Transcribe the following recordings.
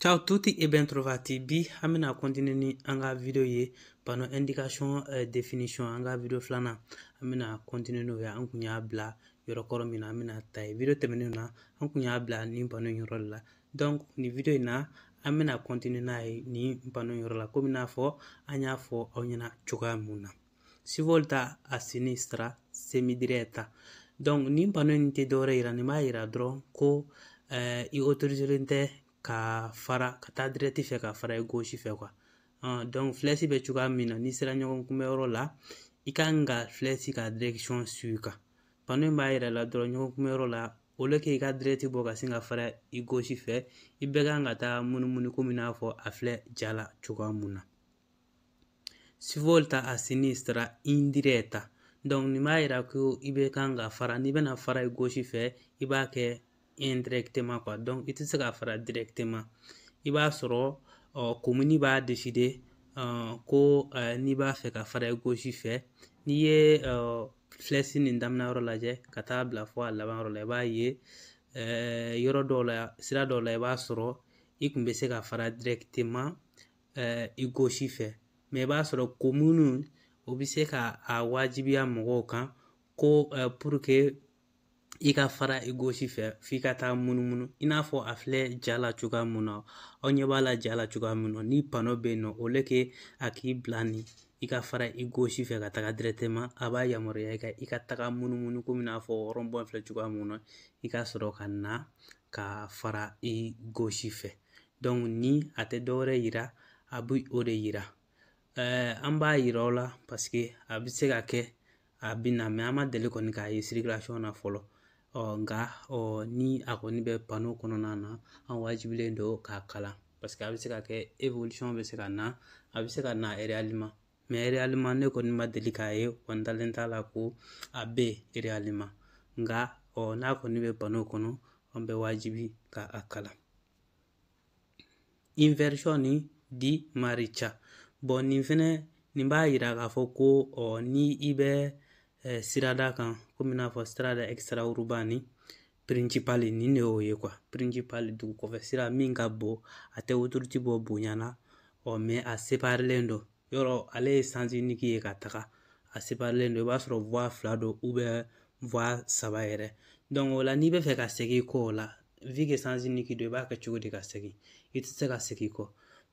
Ciao a tutti e ben trovati. Bi an bɛna continuer ni an ka video ye panneau indication euh, définition an ka video filanan an bɛna continuer n'o ye an kun y'a bila yɔrɔ kɔrɔ min na an bɛna ta ye video tɛmɛnenw na an kun y'a bila nin panneau in yɔrɔ de la donc nin video in na an bɛna continuer n'a ye nin panneau in yɔrɔ la komi n'a fɔ an y'a fɔ aw ɲɛna cogoya mun na svolta a sinistra semidiretta donc nin panneau in tɛ dɔwɛrɛ yira nin b'a yira dɔrɔn ko eh, i autoriselen tɛ ka fara ka taa direct fɛ ka fara i gauche fɛ quoi ah, donc flèche bɛ cogoya min na n'i sera ɲɔgɔn kunbɛyɔrɔ la i ka kan ka flèche ka direction suivre kan panneau in b'a yira la dɔrɔn ɲɔgɔn kunbɛyɔrɔ la au lieu k'i ka direct bɔ ka sin ka fara i gauche fɛ i bɛ kan ka taa munumunu komi n'a fɔ a filɛ ja la cogoya mun na Svolta a sinistra indiretta donc nin b'a yira ko i bɛ kan ka fara n'i bɛna fara i gauche fɛ i b'a kɛ indirectement quoi donc i tɛ se ka fara directement i b'a sɔrɔ commune b'a décider ko n'i b'a fɛ ka fara i gauche fɛ n'i ye flèche nin daminɛ yɔrɔ lajɛ ka taa bila fo a laban yɔrɔ la i b'a ye yɔrɔ dɔw la sira dɔw la i b'a sɔrɔ i kun bɛ se ka fara directement eh, i gauche fɛ mais i b'a sɔrɔ commune o bɛ se ka a wajibiya mɔgɔw kan ko eh, pour que i ka fara i gauche fɛ f'i ka taa munumunu i n'a fɔ a filɛ ja la cogoya mun na aw ɲɛ b'a la ja la cogoya mun na ni panneau bɛ yen nɔ au lieu que a k'i bila nin i ka fara i gauche fɛ ka taga directement a b'a yamaruya i ka i ka taga munumunu komi n'a fɔ rond-point filɛ cogoya mun na i ka sɔrɔ ka na ka fara i gauche fɛ donc ni a tɛ dɔwɛrɛ yira a bɛ o de yira eh, an b'a yira o la parce que a bɛ se ka kɛ a bɛ na mais an ma deli kɔni k'a ye circulation na fɔlɔ ɔ nka ɔ ni a kɔni bɛ panneau kɔnɔna na an wajibilen don k'a kalan parce que a bɛ se ka kɛ évolution bɛ se ka na a bɛ se ka na réellement mais réellement ne kɔni ma deli k'a ye wa n dalen t'a la ko a bɛ réellement nka ɔ n'a kɔni bɛ panneau kɔnɔ an bɛ wajibi ka a kalan inversione di marcia bon nin fɛnɛ nin b'a yira k'a fɔ ko ɔ ni i bɛ eh, sirada kan komi n'a fɔ strada extraurbani principale nin de y'o ye quoi principale dugu kɔfɛ sira min ka bon a tɛ autoroute bɔ bonya na ɔ mais a separilen don yɔrɔ ale ye sens unique ye ka taga a separilen don i b'a sɔrɔ voie fila don ou bien voie saba yɛrɛ donc o la n'i bɛ fɛ ka segin kɔ o la vu que sens unique don i b'a kɛ cogo di ka segin i tɛ se ka segin kɔ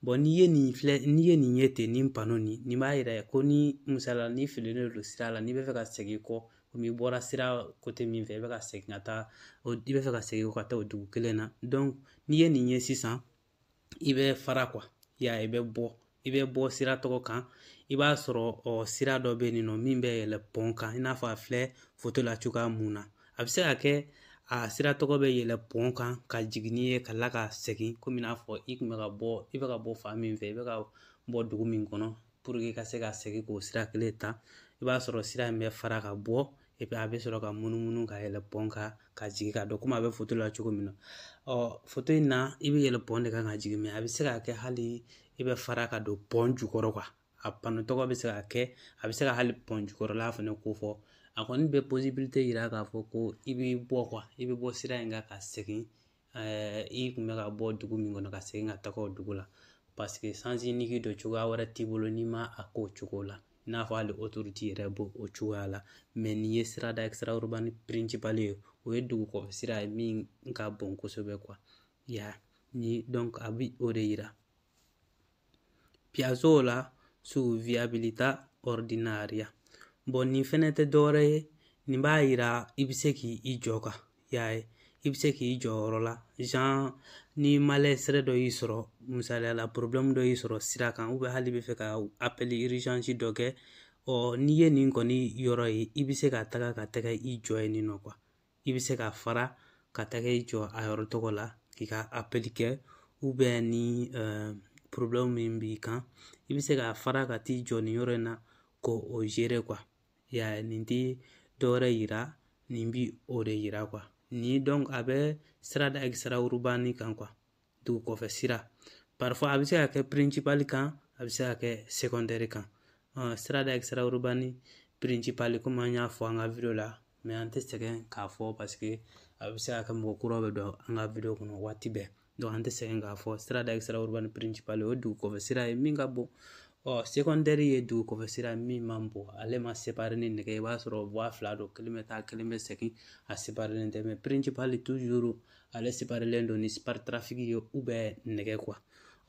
bon n'i ye nin filɛ n'i ye nin ye ten nin panneau nin nin b'a yira ko ni misala n'i fililen don sira la n'i bɛ fɛ ka segin kɔ komi i bɔra sira kote min fɛ i bɛ ka segin ka taa i bɛ fɛ ka segin ka taa o dugu kelen na n'i ye nin ye sisan i bɛ fara kuwa ya i bɛ bɔ i bɛ bɔ sira tɔgɔ kan i b'a sɔrɔ ɔ sira dɔ bɛ yen nɔ min bɛ yɛlɛ pɔn kan i n'a fɔ a filɛ foto la cogoya min na a bɛ se ka kɛ a sira tɔgɔ bɛ yɛlɛ pɔn kan ka jigin n'i ye ka la ka segin komi i n'a fɔ i tun bɛ ka bɔ i bɛ ka bɔ fan min fɛ i bɛ ka bɔ dugu min kɔnɔ i ka se ka segin k'o sira kelen ta i b'a sɔrɔ sira in bɛ fara ka bɔ a bɛ sɔrɔ ka munumunu ka yɛlɛ pɔn kan ka jigin ka don komi a bɛ foto la cogo min na ɔ foto in na i bɛ yɛlɛ pɔn de kan ka jigin mɛ a bɛ se ka kɛ hali i bɛ fara ka don pɔn jukɔrɔ kuwa a pano tɔgɔ bɛ se ka kɛ a bɛ se ka hali pɔn jukɔrɔla fana ko fɔ a kɔni bɛ posibilite yira k'a fɔ ko i bɛ bɔ i bɛ bɔ sira in kan ka segin i kun bɛ ka bɔ dugu min kɔnɔ ka segin ka taga o dugu la paseke sansi iniki don cogoya wɛrɛ t'i bolo n'i ma a k'o cogo la i n'a fɔ hali otoruti yɛrɛ b'o o cogoya la mɛ nin ye sirada extraurbani pirincipali ye o ye dugu kɔfɛ sira ye min ka bon kosɛbɛ kuwa ya ni donc a bi o de yira Piazzola su viabilita ordinaria bɔn nin fɛnɛ tɛ dɔwɛrɛ ye nin b'a yira i bɛ se k'i jɔ kuwa ya i bɛ se k'i jɔ yɔrɔ la jan ni malessere dɔ y'i sɔrɔ misaliya la porobilɛmu dɔ y'i sɔrɔ sira kan ubiyɛn hali i bɛ fɛ ka apɛli irizansi dɔ kɛ ɔ n'i ye nin kɔni yɔrɔ ye i bɛ se ka taga ka taga i jɔ yen nɔ kuwa i bɛ se ka fara ka taga i jɔ a yɔrɔ tɔgɔ la k'i ka apɛli kɛ ubiyɛn ni porobilɛmu min b'i kan i bɛ se ka fara ka t'i jɔ nin yɔrɔ in na k'o zere kuwa ya nin tɛ dɔwɛrɛ yira nin bi o de yira kuwa ni donc a bɛ sirada extraurbani kan kuwa dugu kɔfɛ sira parifuwa a bɛ se ka kɛ pirincipali kan a bɛ se ka kɛ sekɔndɛri kan sirada extraurbani pirincipali komi an y'a fɔ an ka video la mɛ an tɛ sɛgɛn k'a fɔ paseke a bɛ se ka kɛ mɔgɔ kura bɛ don an ka video kɔnɔ waati bɛɛ donc an tɛ sɛgɛn k'a fɔ sirada extraurbani pirincipali o ye dugu kɔfɛ sira ye min ka bon ɔ sekɔndɛri ye dugu kɔfɛ sira min man bon ale ma separi ni nɛgɛ i b'a sɔrɔ vuwa fila don kelen bɛ taa kelen bɛ segin a separinen tɛ mɛ pirincipali tuzuru ale separilen don ni spartitraffico ye ubiyɛn nɛgɛ kuwa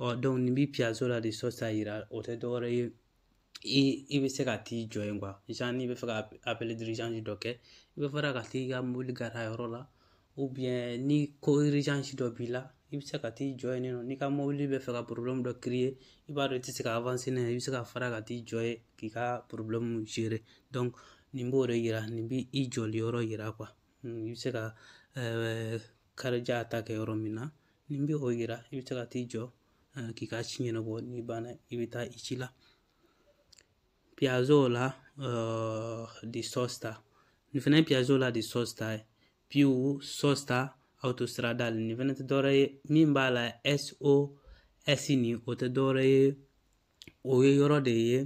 ɔ dɔnku nin bi piazzola di sosta yira o tɛ dɔwɛrɛ ye i i bɛ se ka t'i jɔ yen kuwa jan n'i bɛ fɛ ka apɛli dirijansi dɔ kɛ i bɛ fara ka t'i ka mobili gara yɔrɔ la ubiyɛn ni ko irizansi dɔ b'i la i bɛ se ka t'i jɔ yen nɔ n'i ka mobili bɛ fɛ ka porobilɛmu dɔ kiriye i b'a dɔn i tɛ se ka avanse n'a ye i bɛ se ka fara ka t'i jɔ yen k'i ka porobilɛmu zere dɔnku nin b'o de yira nin b'i jɔli yɔrɔ yira hmm, i bɛ se ka eh, karija ta kɛ yɔrɔ min na ni bɛ o yira i bɛ se ka t'i jɔ eh, k'i ka ci ɲɛnabɔ n'i banna i bɛ taa i ci la piazzola eh, di sosta nin fɛnɛ ye piazzola di sosta ye più sosta autostradale nin fɛnɛ tɛ dɔwɛrɛ ye min b'a la SOS nin o tɛ dɔwɛrɛ ye o ye yɔrɔ de ye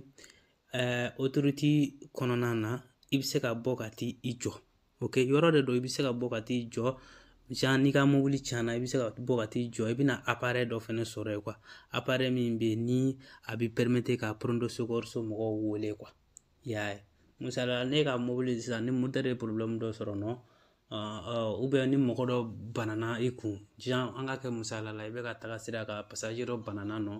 autoroute kɔnɔna na i bɛ se ka bɔ ka t'i jɔ oke yɔrɔ de don i bɛ se ka bɔ ka t'i jɔ genre n'i ka mobili tiɲɛna i bɛ se ka bɔ ka t'i jɔ i bɛna aparɛ dɔ fɛnɛ sɔrɔ yen kuwa aparɛ min bɛ yen ni a bɛ pɛrɛmete ka pronto soccorso mɔgɔw wele kuwa i y'a ye misali la ne ka mobili sisan ni motɛri ye porobilɛmu dɔ sɔrɔ nɔ ni mɔgɔ dɔ banana i kun genre an ka kɛ misaliya la i bɛ ka taga sira kan pasaje dɔ banana nɔ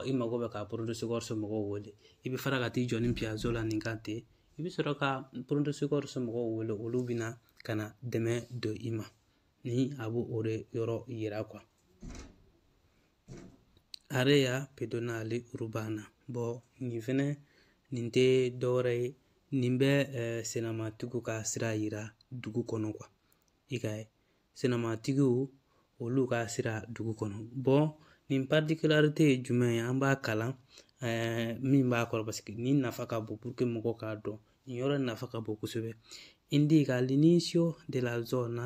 i mago bɛ ka pronto soccorso mɔgɔw wele i bɛ fara ka t'i jɔ ni piazzola nin kan ten i bɛ sɔrɔ ka pronto soccorso mɔgɔw wele olu bɛna ka na dɛmɛ don i ma ni a b'o de yɔrɔ yira area pedonale urbana bon nin fɛnɛ nin tɛ dɔwɛrɛ ye nin bɛ eh, senamatigiw ka sira yira dugu kɔnɔ quoi i ka ye senamatigiw olu ka sira dugu kɔnɔ bon nin particularité ye jumɛn ye an b'a kalan eh, min b'a kɔrɔ parce que nin nafa ka bon pour que mɔgɔw k'a dɔn nin yɔrɔ nafa ka bon kosɛbɛ indica l'inizio della zona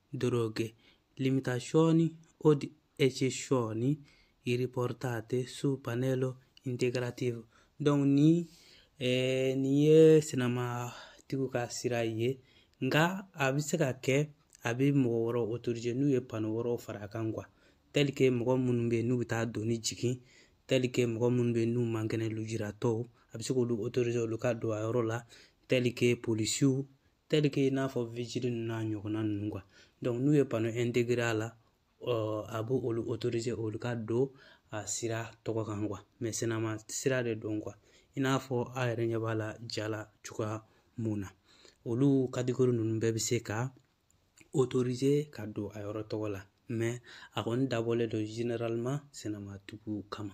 deroghe, limitazioni o eccezioni riportate su pannello integrativo. Donc ni eh, nin ye senamatigiw ka sira ye nka a bɛ se ka kɛ a bɛ mɔgɔ wɛrɛw otorize n'u ye pano wɛrɛw fara a kan kuwa tɛlike mɔgɔ minnu bɛ yen n'u bɛ taa doni jigin tɛlike mɔgɔ minnu bɛ yen n'u man kɛnɛ lujuratɔw a bɛ se k'olu otorize olu ka don a yɔrɔ la tɛlike polisiw i n'a fɔ ninnu n'a ɲɔgɔnna ninnu n'u ye bana a la a b'o olu olu ka don a sira tɔgɔ kan sennama sira de don i n'a fɔ a yɛrɛ ɲɛ b'a la ja la cogoya mun na olu kadikuru ninnu bɛɛ bɛ se ka ka don a yɔrɔ tɔgɔ la a kɔni dabɔlen don sennama tugu kama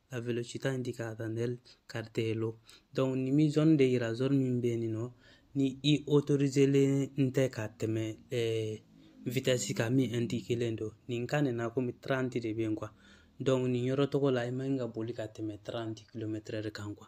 la velocità indicata nel cartello donc ni mi zone de yira zone min bɛ nin nɔ ni i autoriselen tɛ ka tɛmɛ eh, vitesse kan min indiquelen don nin kan nin na komi 30 de bɛ yen quoi donc nin yɔrɔ tɔgɔ la i man kan ka boli ka tɛmɛ 30 km kan quoi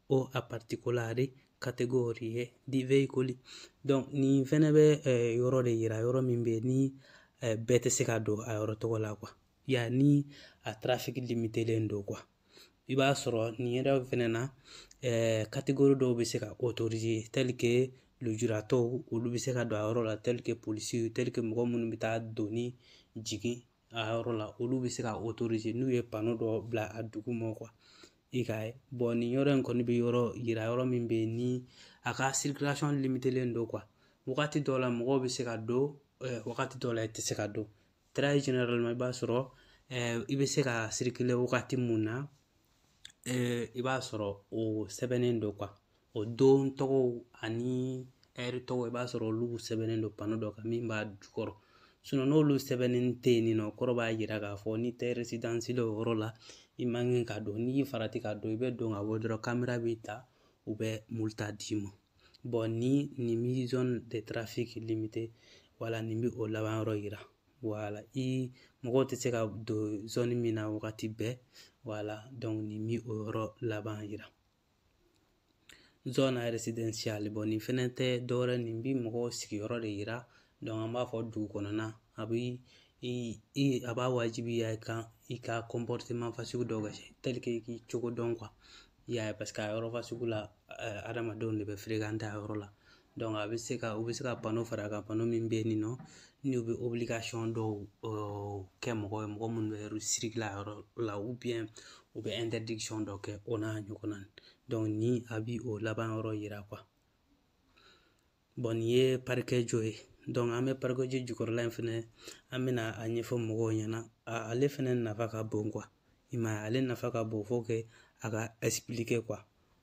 o a particolari categorie di veicoli donc nin fɛnɛ bɛ eh, yɔrɔ de yira yɔrɔ min bɛ ni eh, bɛɛ tɛ se ka don a yɔrɔ tɔgɔ la quoi ya ni a trafic limitelen don quoi i b'a sɔrɔ nin yɛrɛ fɛnɛ na eh, catégorie dɔw bɛ se ka autoriser tel que lujuratɔw olu bɛ se ka don a yɔrɔ la tel que polisiw tel que mɔgɔ minnu bɛ taa doni jigin a yɔrɔ la olu bɛ se ka autoriser n'u ye pano dɔ bila a duguma quoi i k'a ye bon nin yɔrɔ in kɔni bɛ yɔrɔ yira yɔrɔ min bɛ yen ni a ka circulation limitelen don quoi wagati dɔw la mɔgɔw bɛ se ka don wagati dɔw la i tɛ se ka don très généralement i b'a sɔrɔ i bɛ se ka circuler wagati mun na i b'a sɔrɔ o sɛbɛnnen don quoi o don tɔgɔw ani ɛri tɔgɔw i b'a sɔrɔ olu sɛbɛnnen don pano dɔ kan min b'a jukɔrɔ n'olu sɛbɛnnen tɛ yen nɔ kɔrɔ b'a yira k'a fɔ n'i tɛ résident o yɔrɔ la i man kan ka don n'i farati ka don i bɛ don ka bɔ dɔrɔn kamera b'i ta u bɛ multa d'i ma bon ni nin mi zone de trafic limité wala nin bɛ o laban yɔrɔ yira wala i mɔgɔw tɛ se ka don zone min na wagati bɛɛ wala nin bi o yɔrɔ laban yira zone résidentielle bon nin fɛnɛ tɛ dɔwɛrɛ nin bi mɔgɔw sigiyɔrɔ de yira an b'a fɔ dugu kɔnɔna a bi i i a b'a wajibiya i kan i ka comportement fasugu dɔw kɛ tel que k'i cogo dɔn quoi i y'a ye parce que a yɔrɔ fasugu la adamadenw de bɛ fréquenter a yɔrɔ la a bɛ se ka u bɛ se ka bano fara a kan bano min bɛ yen nɔ n'u bɛ dɔw kɛ mɔgɔ ye mɔgɔ minnu bɛ yɔrɔ sirila yɔrɔ la u bɛ dɔ kɛ o n'a ɲɔgɔnna ni a bi o laban yɔrɔ yira nin ye parikɛ jɔ ye an bɛ parikɛji jukɔrɔla in fɛnɛ an bɛna a ɲɛfɔ mɔgɔw ɲɛna ale fɛnɛ nafa ka bon i m'a ye ale nafa ka bon fo kɛ a ka kɛ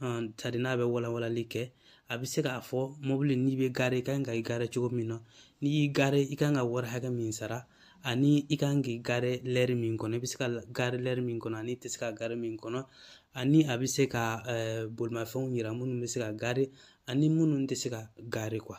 c'est-à-dire n'a bɛ walawalali kɛ a bɛ se k'a fɔ mobili n'i bɛ gare i kan ka i gare cogo min na n'i y'i gare i kan ka wari hakɛ min sara ani i kan k'i gare lɛri min kɔnɔ i bɛ se ka gare lɛri min kɔnɔ ani i tɛ se ka gare min kɔnɔ ani a bɛ se ka bolimafɛnw yira minnu bɛ se ka gare ani minnu tɛ se ka gare quoi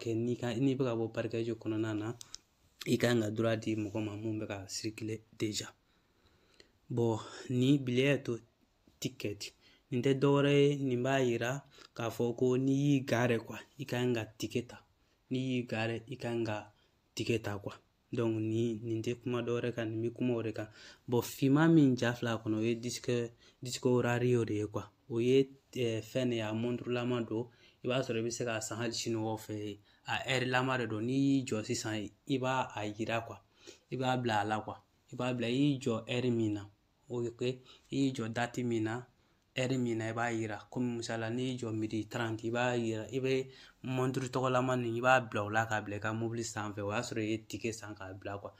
que n'i ka n'i bɛ ka bɔ parcheggio kɔnɔna na i kan ka droit di mɔgɔ ma mun bɛ ka circuler déjà bon nin biglietto ticket nin tɛ dɔwɛrɛ ye nin b'a yira k'a fɔ ko n'i y'i gare quoi i kan ka ticket ta n'i y'i gare i kan ka ticket ta donc nin tɛ kuma dɔwɛrɛ kan nin bɛ kuma o de kan bon finman min ja fila kɔnɔ o ye disco orario de ye quoi o ye fɛn de ye a mɔnturulama don i b'a sɔrɔ i bɛ se k'a san hali siniwaw fɛ a ɛrilama de don n'i y'i jɔ sisan i b'a a yira quoi i b'a bila a la quoi i b'a bila i y'i jɔ ɛri min na ok i y'i jɔ dati min na ɛri min na i b'a yira komi misala n'i y'i jɔ midi taranti i b'a yira i bɛ mɔnturu tɔgɔlama nin i b'a bila o la k'a bila i ka mobili sanfɛ o y'a sɔrɔ i ye tike san k'a bila kuwa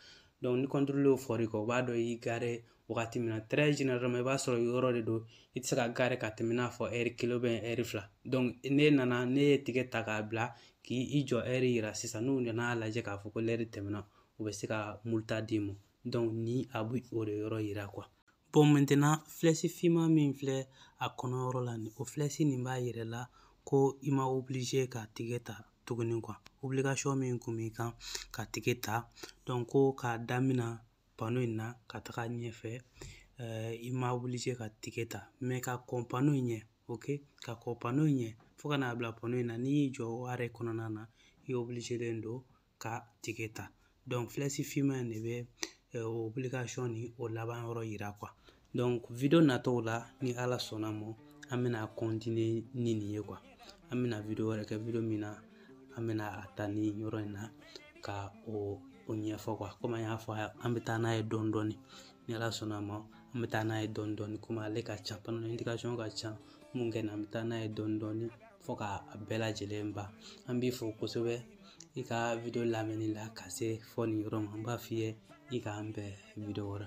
dɔnku ni kɔntorolɛriw fɔr'i kɔ o b'a dɔn i y'i gare wagati min na tɛrɛ generalema i b'a sɔrɔ yɔrɔ de don i tɛ se ka gare ka tɛmɛ n'a fɔ ɛri kelen u ɛri fila dɔnku n'i nana n'i ye tike ta k'a bila k'i jɔ ɛri yira sisan n'u nana lajɛ k'a fɔ ko lɛri tɛmɛna u bɛ se ka multa d'i ma dɔnku ni a bɛ o de yɔrɔ yira kuwa bɔn mɛntena filɛsi finman min filɛ a kɔnɔyɔrɔ la nin o filɛsi nin b'a yir'i la ko i ma obilize ka tike ta tuguni kuwa obilikasɔn min kun b'i kan ka tike ta dɔnku ko k'a damina pano in na ka taga ɲɛfɛ eh, i ma obilize ka tike ta mɛ ka kɔn pano in ɲɛ ok ka kɔn pano in ɲɛ fo ka n'a bila pano in na n'i y'i jɔ o are kɔnɔna na i obilizelen don ka tike ta dɔnku filɛsi finman in de bɛ obilikasɔn nin o laban yɔrɔ yira kuwa dɔnku video nataw la ni ala sɔnna ma an bɛna kɔntinye ni nin ye kuwa an bɛna video wɛrɛ kɛ video min na an bɛna a ta nin yɔrɔ in na ka o o ɲɛfɔ kuwa komi an y'a fɔ an bɛ taa n'a ye dɔɔni dɔɔni ni ala sɔnna ma an bɛ taa n'a ye dɔɔni dɔɔni komi ale ka ca pano ɛndikasɔn ka ca mun kɛ na an bɛ taa n'a ye dɔɔni dɔɔni fo ka a bɛɛ lajɛlen ban an b'i fo kosɛbɛ i ka video lamɛnni la ka se fo nin yɔrɔ ma n b'a f'i ye i k'an bɛn video wɛrɛ